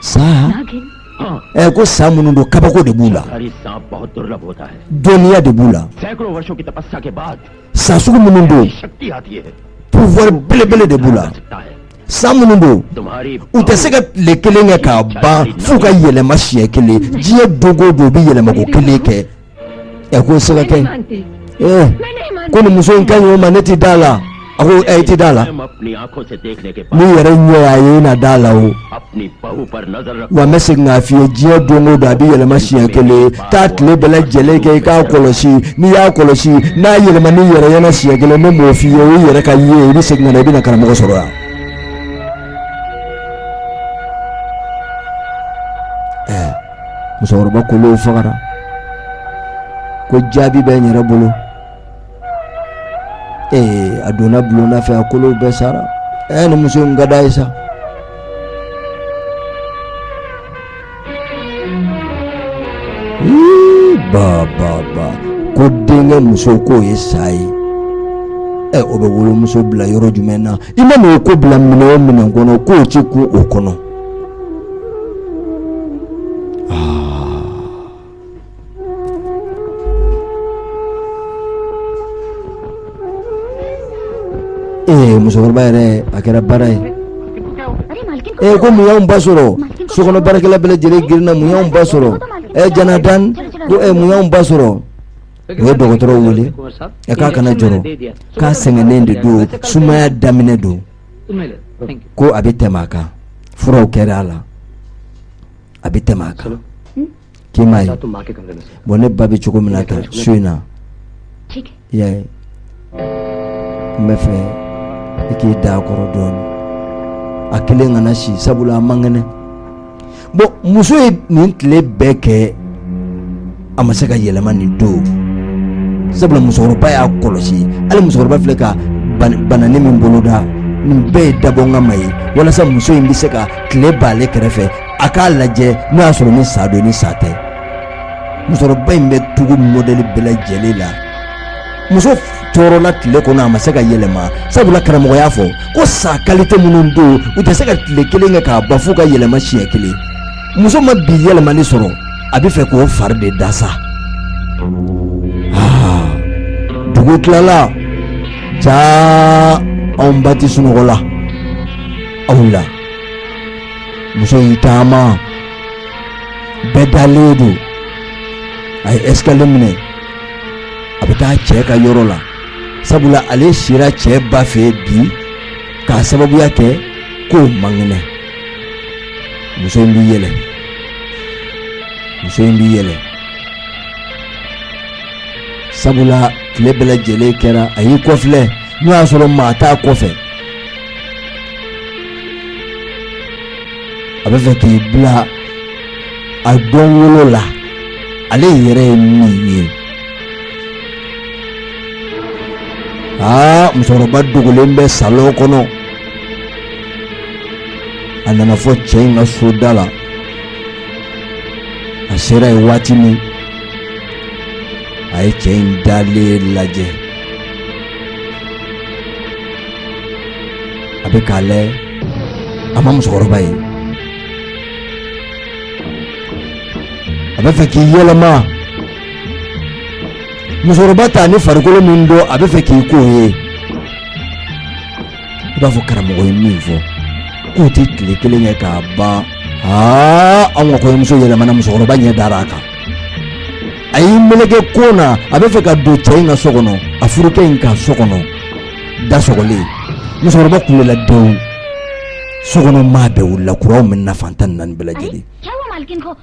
sa ɛ ko sa minnu don kabako de b'u la dɔnniya de b'u la sa sugu minnu don pouvoir belebele de b'u la sa minnu don u tɛ se ka tile kelen kɛ k'a ban f'u ka yɛlɛma siɲɛ kelen diɲɛ don o don u bɛ yɛlɛmako kelen kɛ ɛ k'o se ka kɛ ee ko nin muso in ka ɲi o ma ne ti da la a ko ɛ i ti da la n'i yɛrɛ ɲɛ y'a ye i na da la o wa n bɛ segin k'a f'i ye diɲɛ don o don a bɛ yɛlɛma siɲɛ kelen taa tile bɛɛ lajɛlen kɛ i k'a kɔlɔsi n'i y'a kɔlɔsi n'a yɛlɛman'i yɛrɛ ɲɛna siɲɛ kelen ne m'o f'i ye o yɛrɛ k'a ye i bɛ segin ka na i bɛna karamɔgɔ sɔrɔ yan. musokɔrɔba kolow fagara ko jaabi bɛ n yɛrɛ bolo ee a donna bulonna fɛ a kolow bɛɛ sara ɛɛ nin muso in ka d'a ye sa ba ba ba ko denkɛ muso k'o ye sa ye ɛ o bɛ wolomuso bila yɔrɔ jumɛn na i mana o ko bila minɛn o minɛn kɔnɔ k'o ti kun o kɔnɔ ee musokɔrɔba yɛrɛ a kɛra baara ye ee ko mun y'anw ba sɔrɔ sokɔnɔ baarakɛla bɛɛ lajɛlen girinna mun y'anw ba sɔrɔ ee jonathan ko ee mun y'anw ba sɔrɔ u ye dɔgɔtɔrɔ wele a k'a kana jɔrɔ k'a sɛgɛnnen de don sumaya daminɛ don ko a bɛ tɛmɛ a kan furaw kɛra a la a bɛ tɛmɛ a kan k'i m'a ye bon ne ba bɛ cogo min na tan so in na i y'a ye n bɛ fɛ i k'i da a kɔrɔ dɔɔnin a kelen kana si sabula a man kɛnɛ bon muso ye nin tile bɛɛ kɛ a ma se ka yɛlɛma nin don sabula musokɔrɔba y'a kɔlɔsi hali musokɔrɔba filɛ ka banani min boloda nin bɛɛ ye dabɔnkama ye walasa muso in bɛ se ka tile b'ale kɛrɛfɛ a k'a lajɛ n'o y'a sɔrɔ ni sa don ni sa tɛ musokɔrɔba in bɛ tugu mɔdɛli bɛɛ lajɛlen la muso tɔɔrɔla tile kɔnɔ a ma se ka yɛlɛma sabula karamɔgɔ y'a fɔ ko sa kalite minnu don u tɛ se ka tile kelen kɛ k'a ban f'u ka yɛlɛma siɲɛ kelen muso ma bi yɛlɛmani sɔrɔ a bɛ fɛ k'o fari de da sa ah, dugu tilala jaa anw ba ti sunɔgɔ la a wulila muso y'i taama bɛɛ dalen don a ye escalier minɛ a bɛ taa cɛ ka yɔrɔ la sabula ale sira cɛ ba fɛ bi k'a sababuya kɛ k'o man kɛnɛ muso in b'i yɛlɛ muso in b'i yɛlɛ sabula tile bɛɛ lajɛlen kɛra a y'i kɔfilɛ n'o y'a sɔrɔ maa t'a kɔfɛ a bɛ fɛ k'i bila a dɔn wolo la ale yɛrɛ ye min ye aa musokɔrɔba dogolen bɛ salon kɔnɔ a nana fo cɛ in ka so da la a sera yen waati min a ye cɛ in dalen lajɛ a bɛ k'a lajɛ a ma musokɔrɔba ye a bɛ fɛ k'i yɛlɛma musokɔrɔba ta ni farikolo min don a bɛ fɛ k'i k'o ye i b'a fɔ karamɔgɔ ye min fɔ k'o tɛ tile kelen kɛ k'a ban aa anw ka kɔɲɔmuso yɛlɛmana musokɔrɔba ɲɛ dara a kan a y'i meleke ko na a bɛ fɛ ka don cɛ in ka so kɔnɔ a furukɛ in ka so kɔnɔ da sɔgɔlen musokɔrɔba kulela denw so kɔnɔ maa bɛɛ wulila kuranw mɛnɛna fan tan ni naani bɛɛ lajɛlen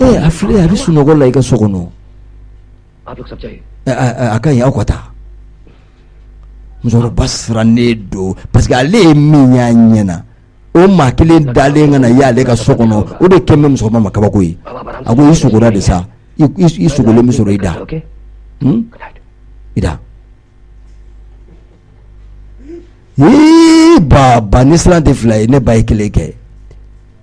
ee a filɛ a bɛ sunɔgɔ la i ka so kɔnɔ a ka ɲi aw ka taa musokɔrɔba sirannen don parce que ale ye min y'a ɲɛ na o maa kelen dalen ka na y'ale ka so kɔnɔ o de kɛlen bɛ musokɔrɔba ma kabako ye a ko i sogola de sa i i sogolen bɛ sɔrɔ i da i da ee baba ne siran tɛ fila ye ne ba ye kelen kɛ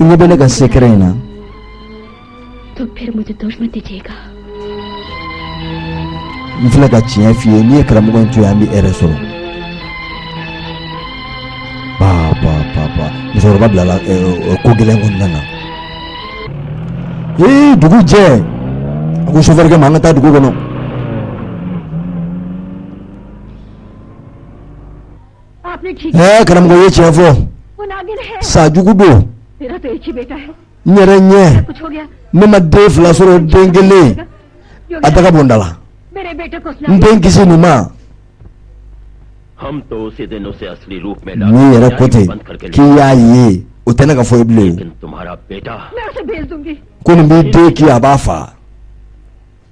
ne bɛ ne ka sekɛrɛ in na n filɛ ka tiɲɛ f'i ye n'i ye karamɔgɔ in to yen an bɛ hɛrɛ sɔrɔ paapaapaapa musokɔrɔba bilala ko gɛlɛn kɔnɔna na ee dugu jɛ a ko sofɛrikɛ ma an ka taa dugu kɔnɔ ɛɛ karamɔgɔ ye tiɲɛ fɔ sa jugu don n yɛrɛ ɲɛ ne ma den fila sɔrɔ den kelen a daga bɔ n da la n den kisi nin ma n'i yɛrɛ ko ten k'i y'a ye o tɛ ne ka fɔ ye bilen ko nin b'i den kin a b'a faa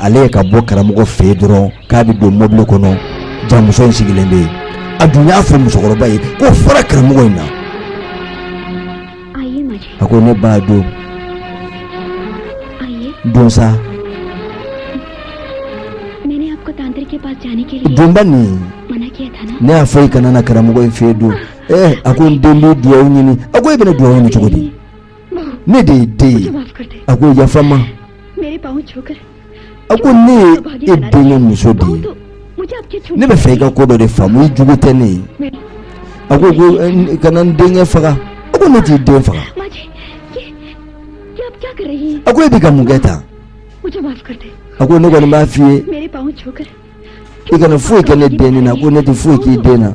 ale ye ka bɔ karamɔgɔ fɛ dɔrɔn k'a bɛ don mɔbili kɔnɔ jaa muso in sigilen bɛ yen a dun y'a fɔ musokɔrɔba ye ko fara karamɔgɔ in na a ko ne ba don don sa don bani ne y'a fɔ i kana na karamɔgɔ in fɛ don a ko n den bɛ dugawu ɲini a ko e bɛna dugawu ɲini cogo di ne de ye den ye a ko yafa n ma a ko ne ye e denkɛ muso de ye ne b'a fɛ i ka ko dɔ de faamu i jugu tɛ ne ye a ko ko eh, kana n denkɛ faga a ko ne t'i den faga a ko e bɛ ka mun kɛ tan a ko ne kɔni b'a f'i ye i kana foyi kɛ ne den na ko ne tɛ foyi k'i den na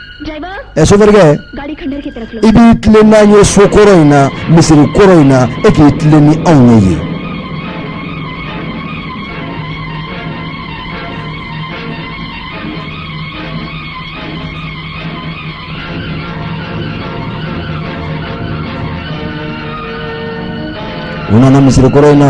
sofɛrikɛ i b'i tilen n'an ye so kɔrɔ in na misiri kɔrɔ in na e k'i tilen ni anw ye yen u nana misiri kɔrɔ in na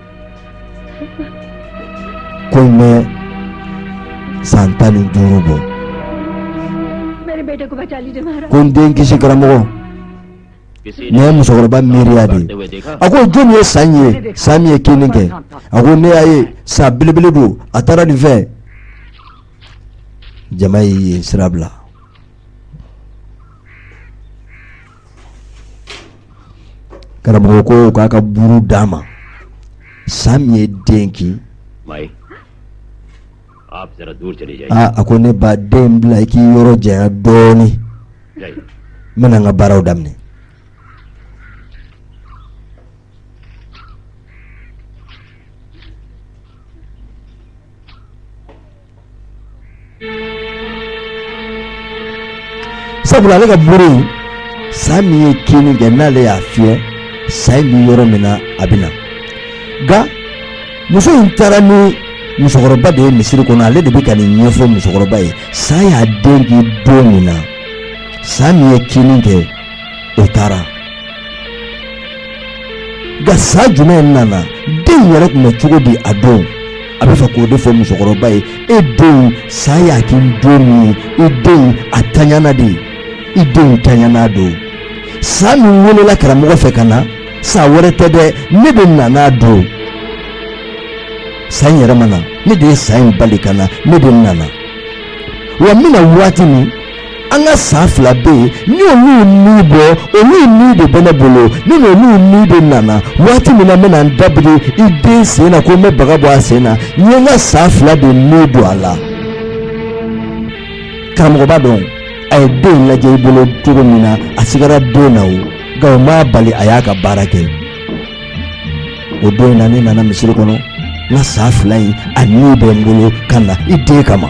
ko in bɛ san tan ni duuru bɔ ko n den kisi karamɔgɔ nin ye musokɔrɔba miiriya de ye a ko jɔnni ye sa ye sa min ye kinni kɛ a ko ne y'a ye sa belebele don a taara nin fɛ jama a ye sira bila karamɔgɔ ko k'a ka buru d'a ma sa min ye den kin aa a ko ne ba den bila i k'i yɔrɔ janya dɔɔnin n bɛna n ka baaraw daminɛ sabula ale ka buru in sa min ye kinni kɛ n'ale y'a fiyɛ sa in bɛ yɔrɔ min na a bɛ na nka muso in taara ni musokɔrɔba de ye misiri kɔnɔ ale de bɛ ka nin ɲɛfɔ musokɔrɔba ye sa y'a den kin don min na sa min ye kinni kɛ o taara nka sa jumɛn nana den yɛrɛ tun bɛ cogo di a don a b'a fɛ k'o de fɔ musokɔrɔba ye e den sa y'a kin don min ye i den a tanyana de i den tanyana don sa min welela karamɔgɔ fɛ ka na sa wɛrɛ tɛ dɛ ne de nana a don sa in yɛrɛ ma na ne de ye sa in bali ka na ne de nana wa n bɛna waati min an ka sa fila bɛ yen n y'olu ni bɔ olu ni de bɛ ne bolo ne n'olu ni de nana waati min na n bɛna n dabiri i den sen na ko n bɛ baga bɔ a sen na n ye n ka sa fila de ni don a la karamɔgɔ b'a dɔn a ye den lajɛ i bolo cogo min na a sigara den na o nka o m'a bali a y'a ka baara kɛ o don in na ne nana misiri kɔnɔ n ka sa fila in a ni bɛ n bolo ka na i den kama.